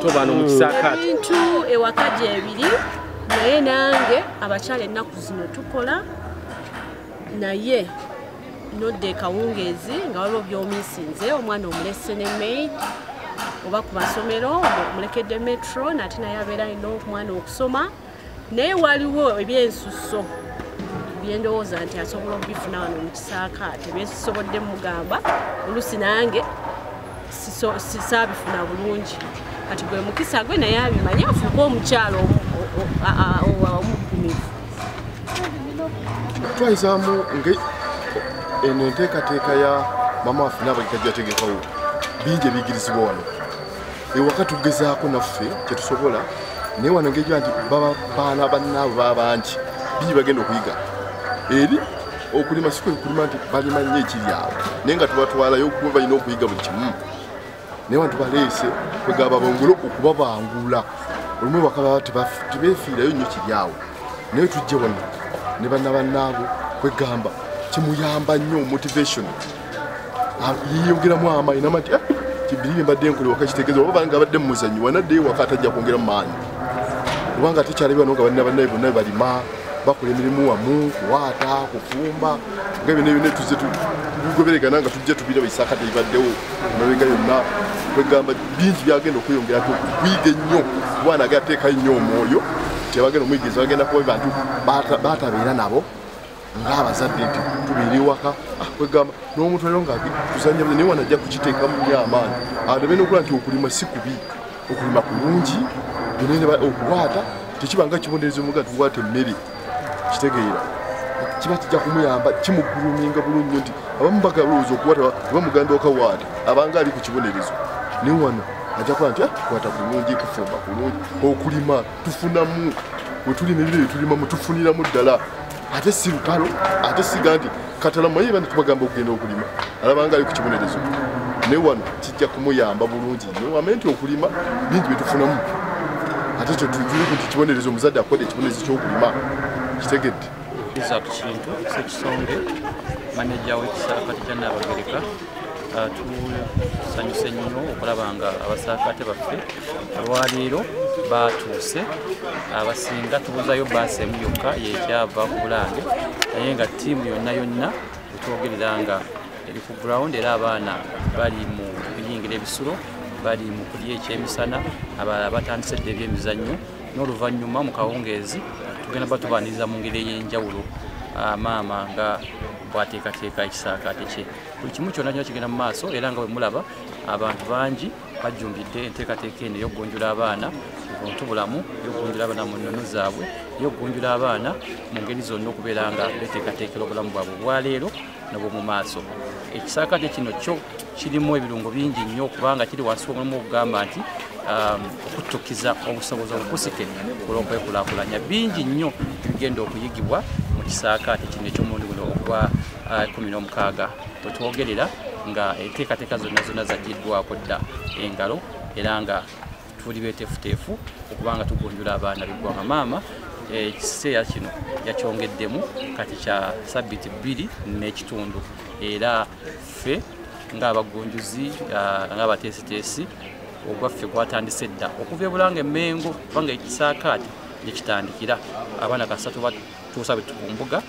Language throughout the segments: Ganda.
abantu bano mu kisaakaate ebintu ewaka gyebiri naye nange abakyala ennaku zino tukola naye nodda ekawungeezi nga waliwo byomisinze omwana omulese ne maid oba ku masomero mulekedde metro nate naye abeera alina omwana okusoma naye waliwo ebyensusso byendowooza nti asobola okubifuna wano mu kisaakaate byezisobodde mugamba olusi nange saabifuna bulungi kati gwe mukisa gwe naye abimanye afuuke omukyalo omugumivu twayisaamu nga eno enteekateeka ya mama waffe naabagitajategekawo bingi ebiyigirizibwa wano ewaka tugezaako naffe kyetusobola naye wano ngeja nti baana bannaabo baba bangi bingi bagenda okuyiga eri okulima si kwekulima nti balima nnyo ekiryawo naye nga tubatwalayo kuba balina okuyiga buli kimu naye bantu baleese kwegaba bongole okubabangula olumu bakaba tebefiirayo nnyo kiryawo naye tujje wano ne banna bannaabo kwegamba kimuyamba nnyo motivation yiyogeramu amaanyi namati eh, kibiri bye mbadde nkole waka kitegeeza oba banga abadde mu muzanyi wanadde waka atajja kwongera mu maanyi kubanga ate kyalabira no nga balina bannaye bonna balima bakola emirimu wamu kuwaata kufumba nga byona byona tuzze tugoberegana nga tujja tubiraba isaaka tebibaddewo emabega yonna kwegamba bingi byagenda okweyongera ti okuyiga ennyo kubwana agateekayo nnyo omwoyo tebagenda omuyigiriza bagenda kuba bantu batabeera nabo ng'abazadde nti tubeera ewaka ah, kwegamba n'omuntu alio nga tuzanya naye wana ajja kukiteekamu nyo amaanyi aleme nokula nti okulima si kubi okulima kulungi okuwaata tekiba nga kibonderezo muga tuwaata emmere kitegeera kiba kijja kumuyamba kimuguluminga bulungi nyo nti abamu bagalowooza okuwaata oba muganda okawaata abanga ali ku kibonerezo naye wano ajja kuba nti ah, kwata kulungi kufumba kulungi okulima tufunamu wetuli nebire byetulima mutufuniramu ddala ate si lutalo ate siga nti katalama ye bani tubagamba okugenda okulima alabanga ali ku kibonerezo naye wano kijja kumuyamba bulungi nyo ame nti okulima bingi byetufunamu ate ekyo tujule ku nti kibonerezo omuzadde akola ekibonerezo kyokulima kitegedde Isaac Kintu, Sekisonge, maneja w'ekisakati kya Nnaabagereka ah, tusanyuse nnyo okulaba nga abasaakaate baffe olwaleero batuuse abasinga tubuzayo baasi emu yokka yekyava ku bulange naye nga tiimu yonna yonna etwogerera nga eri ku ground era abaana bali mu kuyingira ebisulo bali mu kulya ekyemisana abalala batandise dda ebyemizannyo n'oluvannyuma mu kawungeezi tugenda batubaniriza mu ngeri ey'enjawulo ah, maama nga bwateekateeka ekisaakaate kye buli kimu kyonna kyona kigenda mu maaso era nga bwemulaba abantu bangi bajjumbidde enteekateeka eno ey'okugunjula abaana buntu bulamu ey'okugunjula abaana mu nnono zaabwe ey'okugunjula abaana mu ngeri zonna okubeera nga beteekateekera obulamu bwabwe obwaleero nobwomu maaso ekisaakate kino kyo kirimu ebirungo bingi nnyo kubanga kiri wansi w'omulimu okugamba nti Um, okutukiza obusobozi obukusike olw'okwekulakulanya bingi nnyo bigenda okuyigibwa mu kisaakaate kino eky'omundi guno ogwa kumi n'omukaaga wetwogerera nga enteekateeka zonna zonna zaggiddwako dda engalo era nga tuli beteefuteefu okuba nga tugunjula abaana beggwanga maama eh, ekiseera kino yakyongeddemu kati kya sabbiti bbiri n'ekitundu era ffe ng'abagunjuzi ah, ng'abateesiteesi ogwaffe gwatandise dda okuva ebulanga emengo kubanga ekisaakaati gyekitandikira abaana kasatu tuusa betu ku mbuga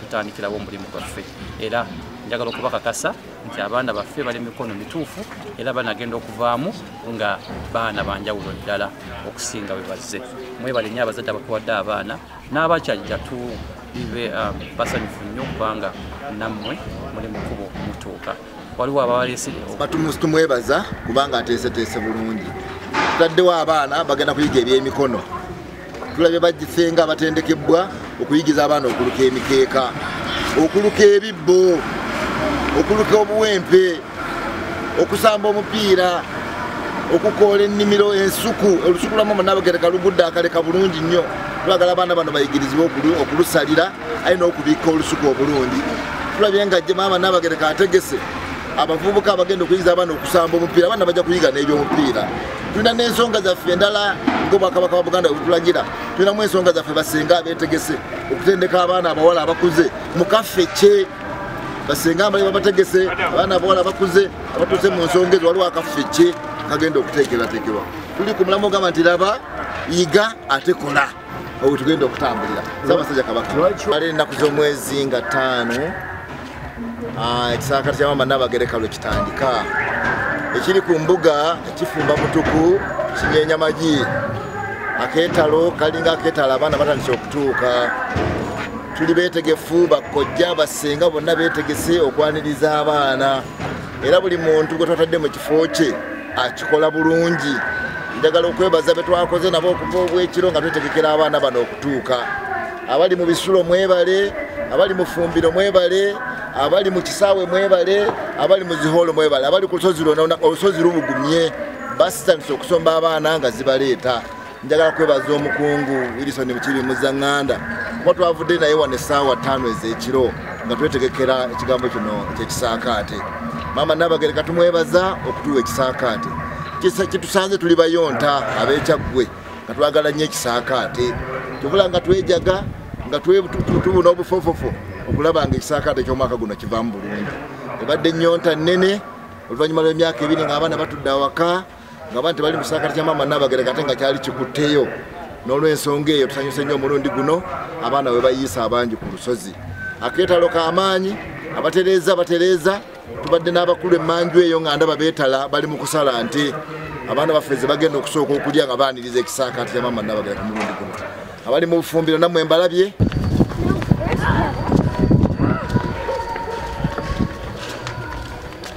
tutandikirawo omulimu gwaffe era njagala okubakakasa nti abaana baffe bali mikono mituufu era banagenda okuvaamu nga baana banjawulo ddala okusinga bwe bazze mwebale nyo abazadde abatuwadde abaana n'abakyajja tu bibe um, basanyufu nnyo kubanga nammwe muli mukubo mutuuka waliwo abawalesi tumwebaza kubanga ateeseteese bulungi tutaddewo abaana bagenda kuyiga ebyemikono tulabye bagisenga abatendekebbwa okuyigiza abaana okuluka emikeeka okuluka ebibbo okuluka obuwempe okusamba omupiira okukoola ennimiro ensuku olusuku lwamu munabagereka lugudde akaleka bulungi nnyo twagala abaana bano bayigirizibwe okulusalira alina okubikka olusuku obulungi tulabye nga jje maama nabagereka ategese abavubuka abagenda okuyiza abaana okusamba omupiira abaana bajja kuyiga n'ebyomupiira tulina n'ensonga zaffe endala ngaobwakabaka wa buganda webutulagira tulinamu ensonga zaffe basenga abetegese okutendeka abaana abawala abakuze mukaffe kye basenga mbali babategese abaana abawala bakuze abatuuse mu nsonga ezo waliwo akaffe kye kagenda okuteekerateekerwa tuli ku mulamu ogamba nti laba yiga ate kola wetugenda okutambulira saabasajja kabaka ali ennaku z'omwezi nga ttaano ah, ekisaakati kya maama nabagereka lwe kitandika ekiri ku mbuga ekifumba mutuku kinyenya magi akeetalo kalinga akeetalo abaana batandise okutuuka tuli beetegefu bakojja basenga bonna beetegese okwaniriza abaana era buli muntu gwe twatadde mu kifo kye akikola bulungi njagala okwebaza betwakoze nabo okuva obwekiro nga twetegekera abaana bano okutuuka abali mu bisulo mwebale abali mu fumbiro mwebale abali mu kisaawe mwebale abali mu zihoolo mwebale abali ku lusozi lwona olusozi lubugumye basitandise okusomba abaana nga zibaleeta njagala kwebaza omukungu wilison mukibi muzanganda kuba twavudde naye wano essaawa ttaano ez'ekiro nga twetegekera ekigambo kino ekyekisaakaate maama nabagere katumwebaza okutuwa ekisaakaate kitusanze tuli bayonta ab'ekyaggwe nga twagala nnyo ekisaakaate tubula nga twejaga nga tubuna obufofofo okulaba nga ekisaakaate ky'omwaka guno kivaamu bulungi ebadde nnyonta nnene oluvannyuma lw'emyaka ebiri ng'abaana batudde awaka nga bantu bali musakati kya maama nabagereka ate nga kyali kikutteyo n'olwensonga eyo tusanyuse nnyo omulundi guno abaana bwe bayiisa abangi ku lusozi akeetalo k'amaanyi abatereeza batereeza tubadde n'abakulu emmanju eyo nga ndaba beetala bali mu kusala nti abaana baffe ze bagenda okusooka okulya nga baaniriza ekisaakaati kya maama nabagera ku mulundi guno abali mu bufumbiro nammwe mbalabye